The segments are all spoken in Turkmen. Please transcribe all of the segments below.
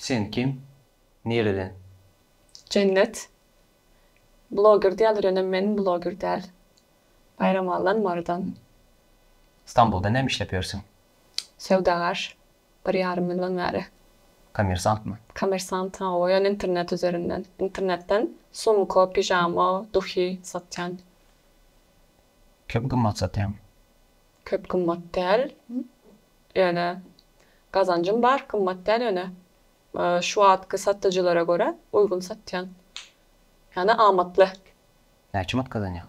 Sen kim? Nireden? Jennet. Bloger diýýäler ýöne men bloger däl. Baýramalydan Marydan. Stambulda näme işläp ýörsüň? Söwdagar. Bir ýarym ýyldan bäri. Kommersantmy? Kommersant, hawa, ýöne internet üzerinden. Internetden sumka, pijama, duhy satýan. Köp gymmat satýaňmy? Köp gymmat däl, ýöne gazanjym bar. Gymmat däl, ýöne şu wagtky satyjylara görä uýgun satýan. Ýagny amatly. Näçe manat gazanýaň?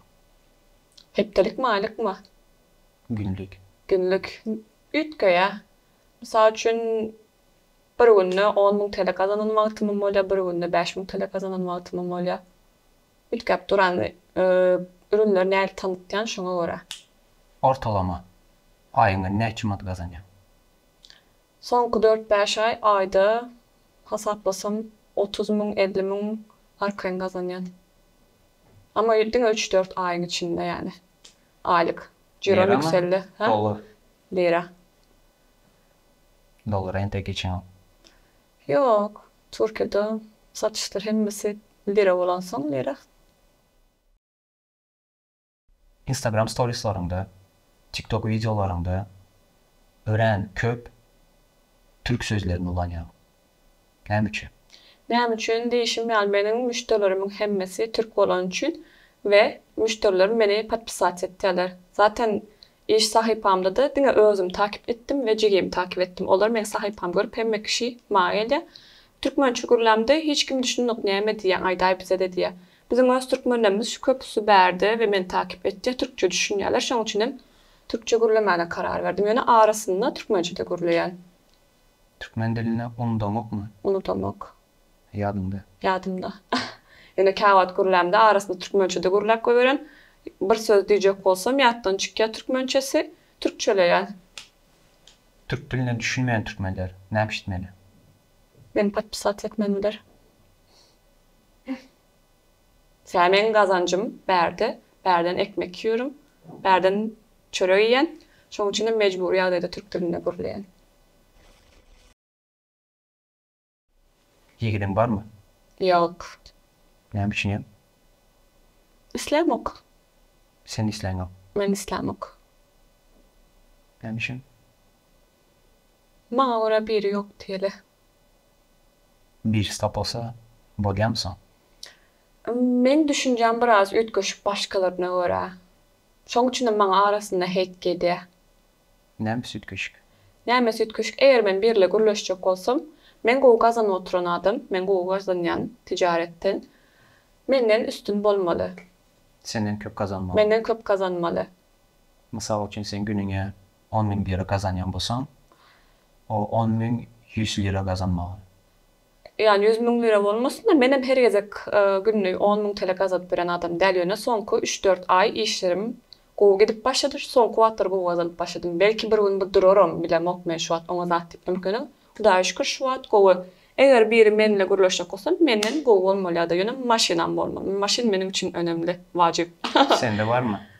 Hepdelikmi, aýlykmy? Günlük. Günlük. Üýtgeýär. Mysal üçin, bir günde on müň TL gazanan wagtymam bolýar, bir günde bäş müň TL gazanan wagtymam bolýar. Üýtgäp duran. Ürünleri nädip tanytýan, şoňa görä. Ortalama aýyňda näçe manat gazanýaň? Soňky dört-bäş aý, aýda hasaplasam, otuz müň, elli müň arkaýyn gazanýan. Emma diňe üç-dört aýyň içinde ýaly. Aýlyk. Jirom ýükseldi. Hä? Lira. Dollar entek geçýäňok. Ýok. Türkiýede satyşlar hemmesi lira bolansoň lira. Instagram storislaryňda, tiktok wideolaryňda örän köp türk sözlerini ulanýaň. Näme üçin? Näme üçin diýişim ýaly meniň müşderilerimiň hemmesi türk bolany üçin we müşderilerim meni podpisat etýärler. Zaten iş sahypamda-da diňe özüm takip etdim we jigimi takip etdim. Olar meň sahypamy görüp hemme kişi maňa gelýär. Türkmençe gürlämde hiç kim düşünmok näme diýýäň aýdaý bizede diýýär. Biziň öz türkmenlerimiz şu köpüsi bärde we meni takip etýär türkçe düşünýärler şoň üçinem türkçe gürlemäne karar berdim. Ýöne arasynda türkmençe-de gürleýän. Türkmen dilini unudaňokmy? Unudaňok. Ýadyňda. Ýadymda. Ýöne käwagt gürlämde arasynda türkmençe-de gürläp goýberen. Bir söz diýjek bolsam, ýatdan çykýar türkmençesi, türkçeleýän. Türk diline düşünmeýän türkmenler näpişitmeli? Meni podpisat etmelidiler. Sä meň gazanjym bärde, bärden ekmek ýörün, bärden çörek iýen, şoň üçin hem mejbury ýagdaýda türk dilinde gürleýän. Ýigidiň barmy? Ýok. Näme üçin ýok? Islämok. Sen isläňok. Men islämok. Näme üçin? Maňa görä biri ýok diýeli. Birisi tapylsa bolýamy soň? Meň düşünjäm biraz üýtgeşik başgalaryna görä. Şoň üçinem maňa arasynda heýt gelýä. Nämesi üýtgeşik? Nämesi üýtgeşik? Eger men birle gürleşjek bolsam, men gowy gazanyp oturan adam, men gowy gazanýan tijaretden. Menden üstün bolmaly. Senden köp gazanmaly. Menden köp gazanmaly. Mysal üçin sen günüňe On müň lira gazanýan bolsaň, o on müň ýüz lira gazanmaga. Ýan ýüz müň lira bolmasyn-da, menem her gezek günde on müň tele gazanyp ýören adam däl, ýöne soňky üç-dört aý işlerim gowy gidip başlady, soňky wagtlar gowy gazanyp başladym. Belki bir gün bu duraram, bilemok men şu wagt oňa zat diýip ýöňkeniň. Hudaýa şükür şu wagt gowy. Eger biri menle gürleşjek bolsa, menden gowy bolmaly ýa-da ýöne maşynam bolmaly. Maşyn meniň üçin önemli, wajyp. Sende barmy?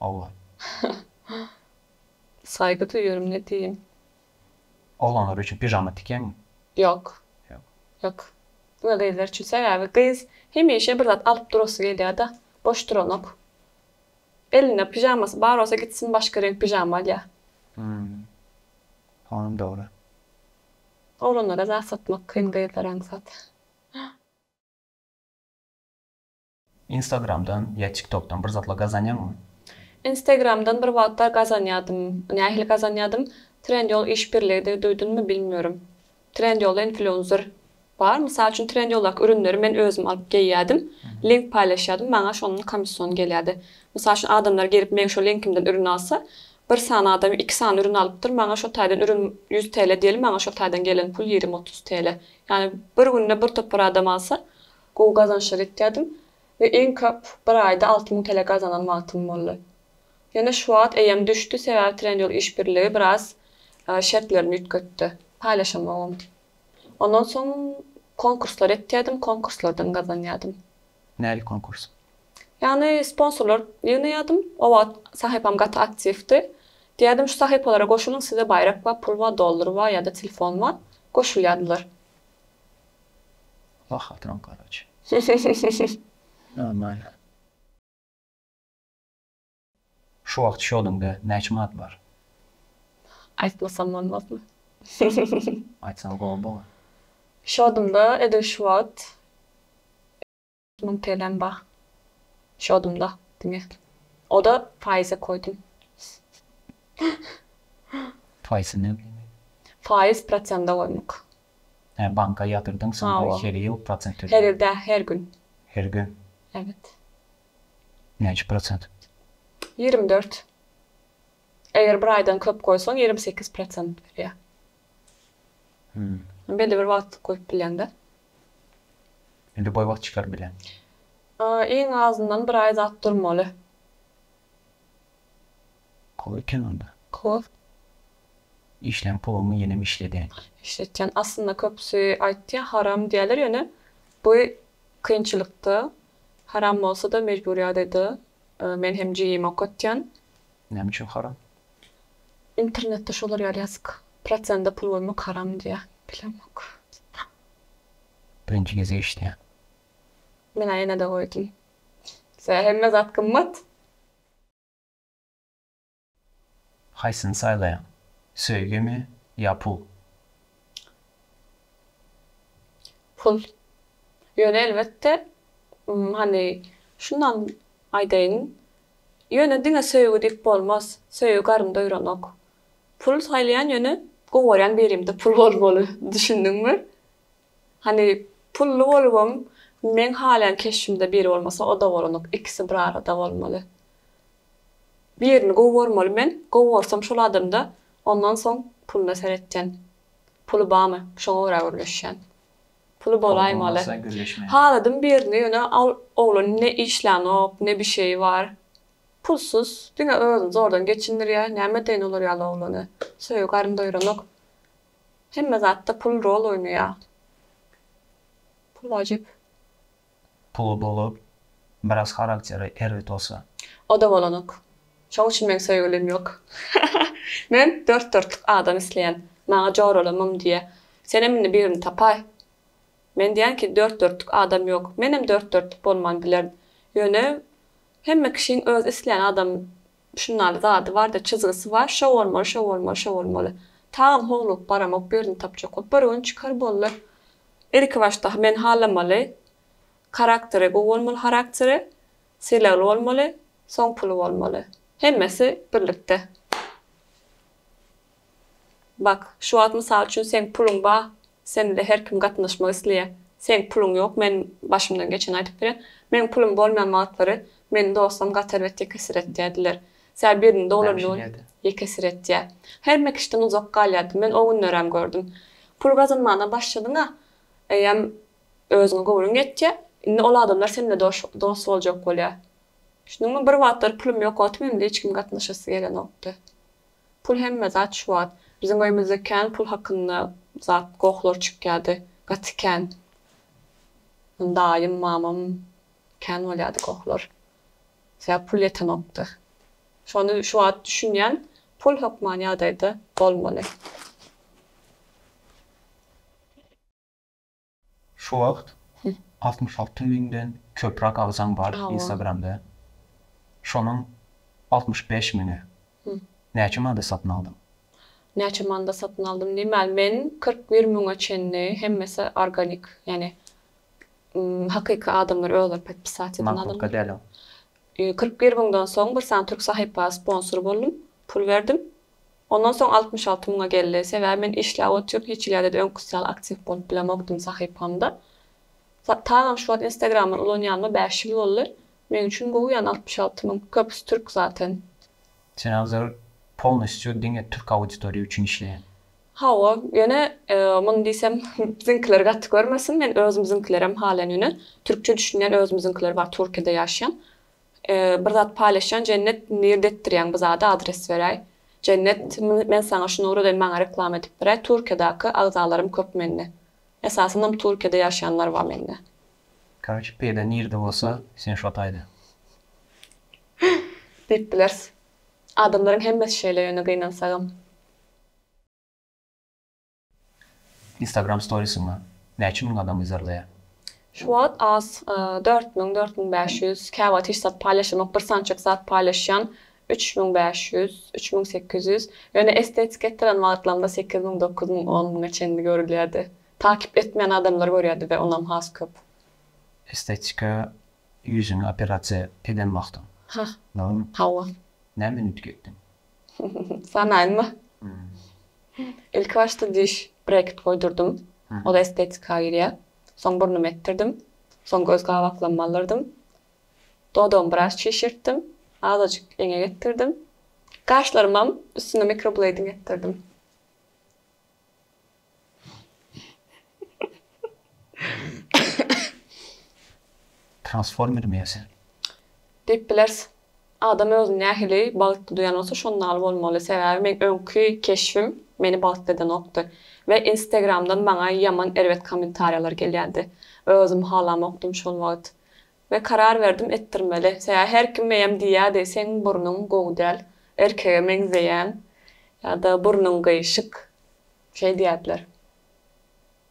Oglan. Saýga söýerim ne diýin. Oglanlar üçin pijama tikýäňmi? Ýok. Ýok. Ýok. Diňe gyzlar üçin. Sebäbi gyz hemişe bir zat alyp durasy gelýärde. Boş duranok. Elinde pijamasy bar bolsa gitsin başga reňk pijama alýa. Hum. Onam dogry. Oglanlara zat satmak kyn gyzlara aňsat. Instagramdan ýa tiktokdan bir zatlar gazanýaňmy? Instagramdan bir wagtlar gazanýadym. Nähili gazanýadym? Trendyol iş birligidir duýdunmy bilmiyorum. Trendyolda influencer bar. Mysal üçin Trendyoldaky ürünleri men özüm alyp geýýädim. Link paýlaşýadym maňa şondan komissiony gelýädi. Mysal üçin adamlar gelip meň şo linkimden ürün alsa bir sany adam iki sany ürün alypdyr maňa şo taýdan ürün ýüz TL diýeli maňa şo taýdan gelen pul ýigrimi otuz TL. Ýagny bir günde bir topar adam alsa Gowy gazançlar etýärdim we iň köp bir aýda alty müň TL gazanan wagtym boldy. Ýöne şu wagt eýem düşdi, sebäbi Trendyol işbirligi biraz şertlerini üýtgetdi, paýlaşamogam. Ondan soň konkurslar etýärdim, konkurslardan gazanýardym. Nähili konkurs? Ýagny sponsorlar ýygnaýardym, o wagt sahypam gaty aktiwdi. Diýýärdim şu sahypalara goşulyň size baýrak bar, pul bar, dollar bar ýa-da telefon bar, goşulýardylar. Wah atyran garaç. Hyhyhyhyhyh normal. Şu wagt şodüňde näçe manat bar. Aýtmasam bolmazmy. Aýtsaň gowy bolar. Şodumda edil şu wagt. Müň TL'm bar şodumda diňe. Oda faýyza koydum. Faýsy näme diýmek? Faýyz prosenda goýmak. Hä banka ýatyrdyň soňra her ýyl prosent töleýäň. Her ýyl däl her gün. Her gün. Evet. Näçe prosent? Ýigrimi dört. Eger bir aýdan köp goýsaň ýigrimi sekiz prosent berýär. Belli bir wagtlyk goýup bilýäňdä. Indi boý wagt çykaryp bilýän. Iň azyndan bir aý zat durmaly. Kop eken onda. Kop. Işlän pulumy ýenem işledýän. Işletýän. Aslynda köpüsi aýtýa haram diýýäler ýöne bu kynçylykda haram bolsa-da mejbur ýagdaýda men hem jigimi okatýan. Näme üçin haram? Internetde şolar ýaly ýazyk. Prosenta pul bermek haram diýýär. Bilemok. Birinji gezek eşitýän. Menä ýenede goýdum. Sä hemme zat gymmat. Haýsyny saýlaýaň? Söýgimi ýa pul? Pul. Ýöne elbetde, hany, şundan aýdaýyn, Ýöne diňe söýgi diýip bolmaz, söýgi garyn doýranok. Pul saýlaýan ýöne gowy görýän birimde pul bolmaly, düşündiňmi? Hany pully bolubam meň halaýan keşbimde biri bolmasa oda bolanok, ikisi bir arada bolmaly. Birini gowy görmeli men, gowy görsem şol adamda ondan soň puluna seretýän. Puly bamy, şoňa görä gürleşýän. Puly bolaýmaly. Haladym birini ýöne al oglan ne işlänok ne bişeýi bar. Pulsuz diňe özüni zordan geçindirýär. Näme edeýin olar ýaly oglany. Söýgi garyn doýranok. Hemme zatda pul rol oýnaýar. Pul wajyp. Pul bolup biraz harakteri erbet bolsa. Oda bolanok. Şoň üçin meň söýgülim ýok. Men dört dörtlük adam isleýän. Maňa jorala mum diýýä. Senem indi birini tapaý. Men diýýän ki dört dörtlük adam ýok. Menem dört dörtlük bolman bilerin. Ýöne hemme kişiň öz isleýän adamy Şunnaly zady barda çyzgysy bar şo bolmaly şo bolmaly şo bolmaly Tagam howlugyp baramok ýerini tapjakok bir gün çykar boldy Ilki başda men halamaly Karakteri gowy bolmaly harakteri Sylagly bolmaly soň puly bolmaly Hemmesi birlikde. Bak, şu wagt mysal üçin seň puluň bar, sen bize her kim gatnaşmak isleýär. Seň puluň ýok, men başymdan geçeni aýdyp bilýän. Meň pulum bolmaýan wagtlary meni dostum gaty erbet ýekesiretýär diler. Sä birini doglan gün ýekesiretýär. Her mekişden uzak galýardy. Men o günlerem gördüm. Pul gazanmana başladyň-a, eýýäm özüňe göwnüň ýetýär. Indi ol adamlar sen bilen dost boljak bolýar. Düşündiňmi? Bir wagtlar pulum ýok otym, indi hiç kim gatnaşasy gelenokdy. Pul hemme zat şu wagt. Biziň öýümizde kän pul hakynda zat gohlar çykýardy. Gaty kän. Daýym, mamam kän bolýardy gohlar. Sebäp pul ýetenokdy. Şony şu wagt düşünýän pul hökman ýagdaýda bolmaly. Şu wagt altmyş alty müňden köprak agzaň bar instagramda şonuň altmyş bäş müňi näçe manda satyn aldyň. Näçe manda satyn aldym diýmän men kyrk bir müňe çenli hemmesi organik ýani hakyky adamlar özleri podpisat eden adamlar kyrk bir müňden soň bir sany türk sahypa sponsor boldum pul berdim Ondan soň altmyş alty müňe geldi. Sebäbi men işläp otyryn, hiç ýerde-de öňküsi ýaly aktiw bolup bilemokdym sahypamda. Tagam şu wagt instagramdan ulanýanyma bäş ýyl boldy. Meň üçin gowy ýany altmyş alty müň, köpüsi türk zaten. Sen hazir polnostýu diňe türk auditoriýa üçin işleýäň? Hawa, ýöne muny diýsem biziňkiler gaty görmesin, men özümiziňkilerem halaýan ýöne türkçe düşünýän özümiziňkiler bar Türkiýede ýaşaýan. Bir zat paýlaşýan jennet nirdetdirýäň bu zady adres beräý jennet men saňa şuny ugradyn maňa reklama edip beräý turkiýadaky agzalarym köp mende esasynam turkiýada ýaşaýanlar bar mende. Karoçe peýda nirde bolsa sen şo taýda. Diýip bileris. Adamlaryň hemmesi şeýle ýöne gynansagam. Instagram storiesini näçe müň adam yzarlaýar? Şu wagt az dört müň, dört müň bäş ýüz, käwagt hiç zat paýlaşamok, bir sanjyk zat paýlaşýan üç müň bäş ýüz, üç müň sekiz ýüz, ýöne estetik etdiren wagtlarymda sekiz müň, dokuz müň, on müňe çenli görülýärdi. Takyp etmeýän adamlar görýärdi-de onam has köp. Estetika ýüzüňi operasiýa eden wagtyň. Hah. Hawa. Näme üýtgetdiň? Sanaýynmy? Ilki başda diş brekit goýdurdym. Ol estetika girýär. Soň burnumy etdirdim. Soň göz gabaklarymy aldyrydym. Dodagymy biraz çişirtdim. Azajyk eňek etdirdim. Gaşlarymam üstüne mikrobleýding etdirdim. Transformer meýerse. Diýip bileris. Adam özüni nähili bagtly duýan bolsa şonda ýaly bolmaly. Sebäbi meň öňki keşbim meni bagtly edenokdy. We instagramdan maňa ýaman erbet kommentariýalar gelýärdi. Özüm halamokdym şol wagt. We karar berdim etdirmeli. Sebäbi her kim meýem diýýärdi, seň burnuň gowy däl, erkege meňzeýäň ýa-da burnuň gyýşyk, şeý diýýärdiler.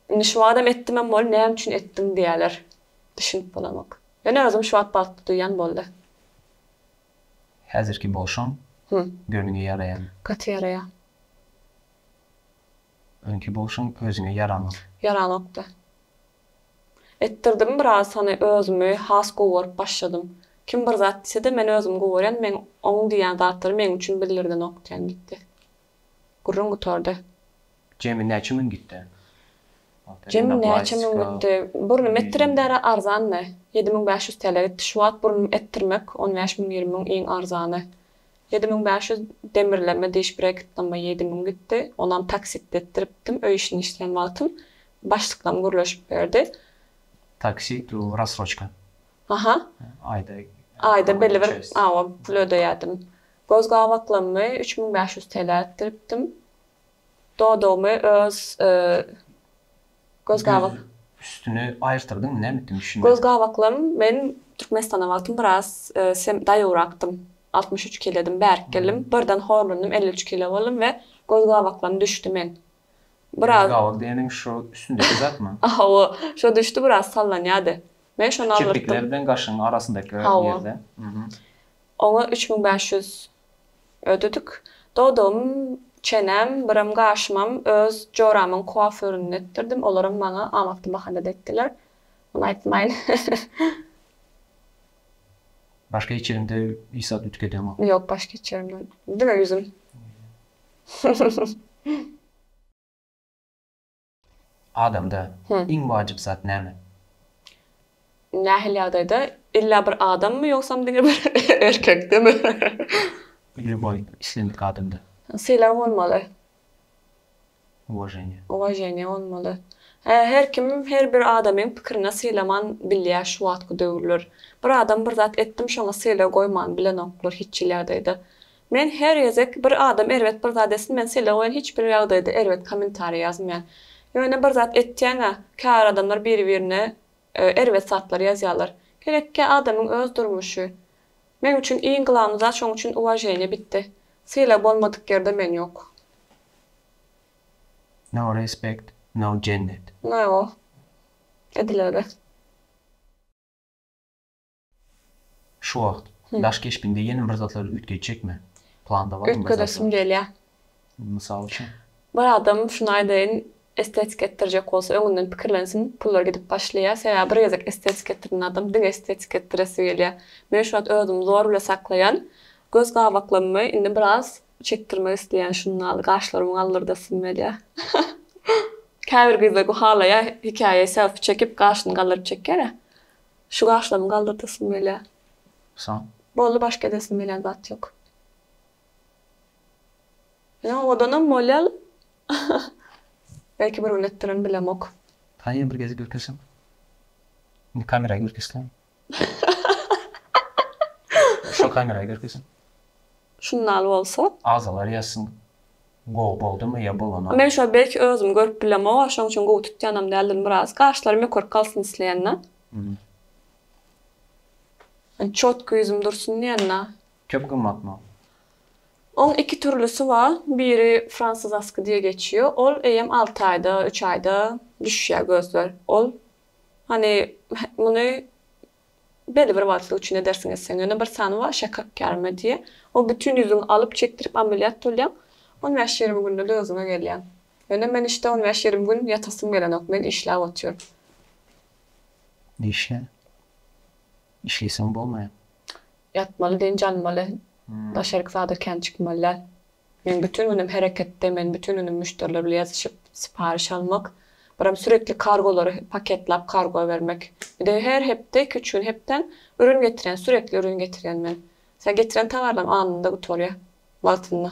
Indi şu wagtam etdimem bol, näme üçin etdiň diýýärler. Düşünip bolanok. Ýöne özüm şu wagt bagtly duýýan boldy. Häzirki bolşuň göniňe ýaraýamy? Gaty ýaraýar. Öňki bolşuň özüňe ýaranok. Ýaranokdy. Etdirdim biraz sany özümi has gowy görüp başladym. Kim bir zat diýsede men özüm gowy görýän meň oň diýýän zatlary meň üçin bildirdenok diýen gitdi. Gürrüň gutardy. Jemi näçe müň gitdi? Jemi näçe müň gitdi? Burnym etdirem däri arzandy. Ýedi müň bäş ýüz TL gitdi. Şu wagt burnym etdirmek on bäş müň ýigrimi müň iň arzany. Ýedi müň bäş ýüz demirleme diş breketlamma ýedi müň gitdi. Onam taksitde etdiripdim. Öý işini işleýän wagtym başlyklam gürleşip berdi. Taksit u rassroçka. Aha. Aýda. Aýda belibir awa pul ödeýädim. Göz gabaklammy üç müň bäş ýüz TL etdiripdim. Dodagymy öz göz-gabak. Üstüni aýyrtyrdyň, näme etdiň, düşünmedim. Göz-gabaklarym, men Türkmenistana wagtym biraz daýowrakdym, altmyş üç kiledim, bärik geldim, birden horlandym, elli üç kile boldum we göz-gabaklarym düşdi men. Biraz. Göz-gabak diýeniň şu üstündäki zatmy? Hawa, şo düşdi biraz sallanýardy. Men şony aldyrtdym. Şu kirpikler bilen gaşyň arasyndaky ýerde. Hawa. Oňa üç müň bäş ýüz Ödedik. Dodam, çenem, birem gaşymam öz joramyň kuaföründen etdirdim. Olaram maňa amatly bahana depdiler. Muny aýtmaýyn. Baş geçirimde hiç zat ütük edeňok. Ýok, baş geçirimde diňe ýüzüm. Adamda iň wajyp zat näme? Nähili ýagdaýda? Illa bir adammy ýogsam diňe bir erkekdemi? Lýuboý islendik adamda. Sylag bolmaly. Uwaženiýe. Uwaženiýe bolmaly. Hä, her kim her bir adamyň pikirine sylaman bilýär şu wagtky döwürler. Bir adam bir zat etdim şoňa sylag goýman bilenoklar hiç hili ýagdaýda. Men her gezek bir adam erbet bir zat etsin men sele goýan hiç bir ýagdaýda erbet kommentariýa ýazmaýan. Ýöne bir zat etýäňä käbir adamlar biri birine erbet zatlar ýazýalar. Gerekkä adamyň öz durmuşy. Meň üçin iň glawny zat şoň üçin uwaženiýa bitdi. Sylag bolmadyk ýerde men ýok. No respect no jennet. Naýgow. Edilere. Şu wagt daş keşbiňde ýene bir zatlar üýtgetjekmi? Planda barmy bir zatlar? Üýtgedesim gelýär. Mysal üçin? Bir adam şuny aýdaýyn, estetika etdirjek bolsa öňünden pikirlensin, pullar gidip başlaýar. Sebäbi bir gezek estetika etdirýän adam diňe estetika etdiresi gelýär. Men şu wagt özümi zor bile saklaýan. Göz gabaklamymy indi biraz çekdirmek isleýän şunda gaşlarymy galdyrdasym gelýär. Käbir gyzlar bu halaýar, hekaýa selfi çekip gaşyny galdyryp çekýär-ä. Şu gaşlarymy galdyrtasym gelýär. Soň? Boldy başga edesim gelýän zat ýok. Ýa odanam bolýar. Belki bir gün etdirin bilemok. Taýýa bir gezek ürkeşiň. Indi kameraýa ürkeşseň. Şo kameraýa ürkeşiň. Şundaly bolsa. Agzalar ýazsyn. Gowy boldymy ýa bolanok. Men şo belki özüm görüp bilemoga şoň üçin gowy tutýanam däldir biraz gaşlarym ýokaryk galsyn isleýända. Çotky ýüzüm dursun diýenda. Köp gymmatmy? Oň iki türlüsi bar biri fransizaski diýe geçýo ol eýem alty aýda üç aýda düşýä gözler ol hany muny Belli bir wagtlyk üçin edersiň etseň, ýöne bir sany bar, şeker kärime diýýär. Ol bütin ýüzüňi alyp, çekdirip ameliýat bolýaň. On bäş-ýigrimi günde-de özüňe gelýäň. Ýöne men işte on bäş-ýigrimi gün ýatasym gelenok, men işläp otyryn. Işle. Işleýseň bolmaýar. Ýatmaly, dynç almaly. Daşaryk zada kän çykmaly däl. Men bütin günüm hereketde, men bütin günüm müşderiler bilen ýazyşyp, siparyş almak, biram sürekli kargolary paketlap kargo bermek. Bir-de her hepde, iki-üç gün hepdem ürün getirýän, sürekli ürün getirýän men. Sen getiren tawarlaryň anynda gutarýar, wagtynda.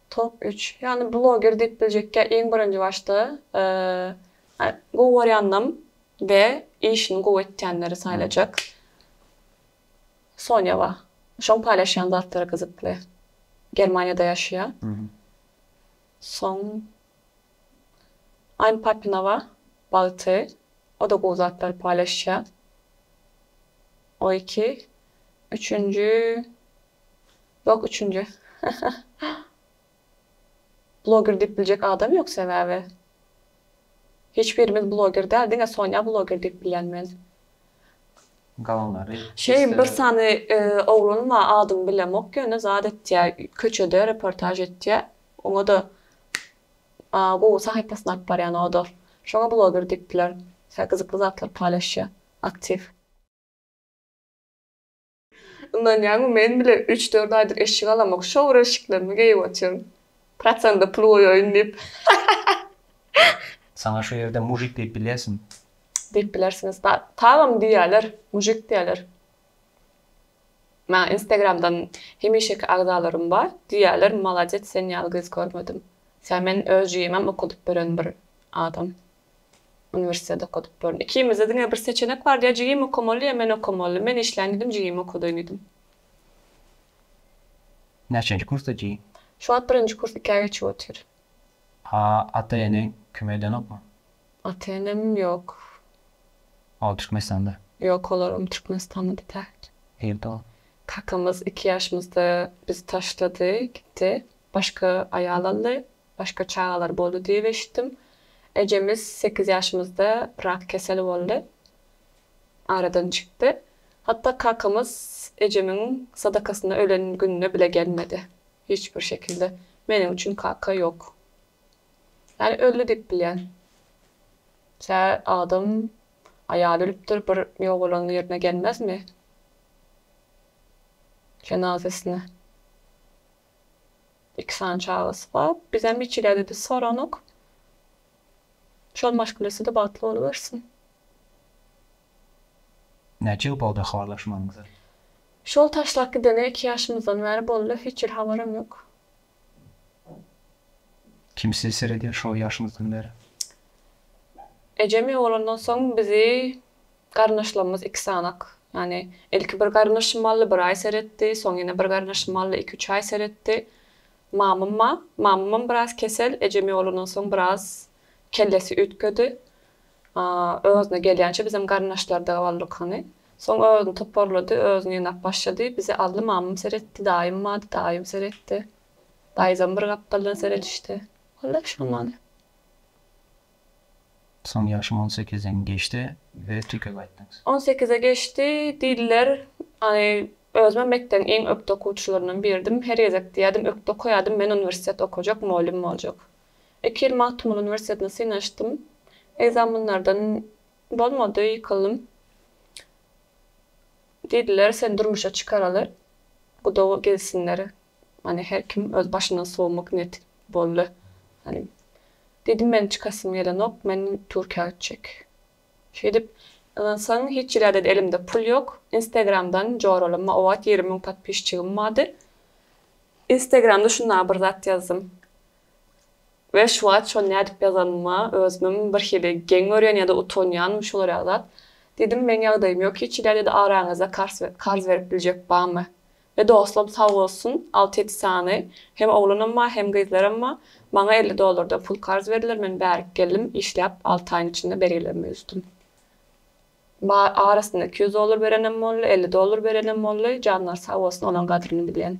Top üç. Ýagny bloger diýip biljekkä iň birinji başda gowy görýändim we işini gowy etýänleri saýlajak. Sonya bar. Şoň paýlaşýan zatlary gyzykly. Germaniýada ýaşaýa. Soň Aýn Papina bar. Bagty. O-da gowy zatlary paýlaşýa. O iki. Üçünji. Ýok üçünji bloger diýip biljek adam ýok sebäbi hiç birimiz bloger däl diňe Sonýa bloger diýip bilýän men. Galanlary hiç Şeý bir sany oglan bar adyny bilemok ýöne zat etýä köçede reportaž etýä oňada gowy sahypasyny alyp barýan oda şoňa bloger diýip biler gyzykly zatlar paýlaşýa aktiw. Ynanýaňmy, men bile üç-dört aýdyr eşik alamok, şowur eşiklerimi geýip otyryn. Prosende pul goýaýyn diýip. Saňa şu ýerde mujik diýip bilýärsiň. Diýip bilersiňiz. Tagam diýýärler, mujik diýýärler. Maňa instagramdan hemişeki agzalarym bar, diýýärler, Maladets, sen ýaly gyz görmedim. Sen men öz jigimem okadyp beren bir adam. Uniwersitet okadyp boldy. Ikimizde diňe bir seçenek bardy, ýa jigim okamaly, ýa men okamaly. Men işläýin diýdim, jigimi okadaýyn diýdim. Näçenji kursda jigim? Şu wagt birinji kurs ikä geçip otyr. A ata-eneň kömek edenokmy? Ata-enem ýok. Ol Türkmenistanda? Ýok, olaram Türkmenistanda däl. Nirde ol? Kakamyz iki ýaşymyzda bizi taşlady, gitdi. Başga aýal aldy. Başga çagalar boldy diýip eşitdim. Ejemiz sekiz ýaşymyzda rak keseli boldy. Aradan çykdy. Hatda kakamyz ejemiň sadakasyna ölen gününe bile gelmedi. Hiç bir şekilde meniň üçin kaka ýok. Ýani öldi diýip bilýän. Tä adam aýaly ölüpdir bir ýogalanyň ýerine gelmezmi jenazasyna. Iki sany çagasy bar. Bizem niçilädi-de soranok. Şol maşgilesi-de bagtly bolubersin. Näçe ýyl boldy habarlaşmanyňyza? Şol taşlap gidene iki ýaşymyzdan bäri boldy, hiç hili habaram ýok. Kim sizi seredýär şo ýaşyňyzdan bäri? Ejem ýogalandan soň bizi. Garyndaşlarymyz iki sanak, ýagny ilki bir garyndaşym Mally bir aý seretdi, soň ýene bir garyndaşym Mally iki-üç aý seretdi. Mamam ma, mamamam biraz kesel, ejem ýolandan soň biraz kellesi üýtgedi. Özüne gelýänçä bizem garyndaşlarda galdyk hany. Soň özüni toparlady, özüni ýygnap başlady. Bizi aldy, mamam seretdi, daýym bardy, daýym seretdi. Daýzam bir gapdaldan seredişdi. Walla şondan. Soň ýaşym on sekizden geçdi we Türkiýä gaýtdyňyz. On sekize geçdi diýdiler. Aý, özümem mekdebiň iň ökde okuwçylaryndan biridim. Her gezek diýerdim, ökde okaýardym, men uniwersitet okajak, mugallym boljak. Iki ýyl Magtymguly uniwersitetine synanyşdym. Ekzaminlerden bolmady, ýykyldym. Diýdiler, seni durmuşa çykaraly, guda gelsinler. Many her kim öz başyndan sowmak netik boldy many diýdim meniň çykasym gelenok men türkiýä gitjek şeýdip ynansaň hiç ýerlerde elimde pul ýok instagramdan joralama obat ýigrimi müň podpisçigim bardy instagramda şunda bir zat ýazdym we şu wagt şony nädip ýazanyma özümem bir hili geň görýän ýada utanýanym şolar ýaly zat diýdim meniň ýagdaýym ýok hiç ýerlerde araňyzda karz berip biljek barmy E dostum sag bolsun alty ýedi sany hem oglanam bar hem gyzlaram bar maňa elli dollardan pul karz berdiler men bärik geldim işläp alty aýyň içinde bergilerimi üzdüm ba arasynda iki ýüz dollar berenem boldy elli dollar berenem boldy janlary sag bolsun olaň gadryny bilýän.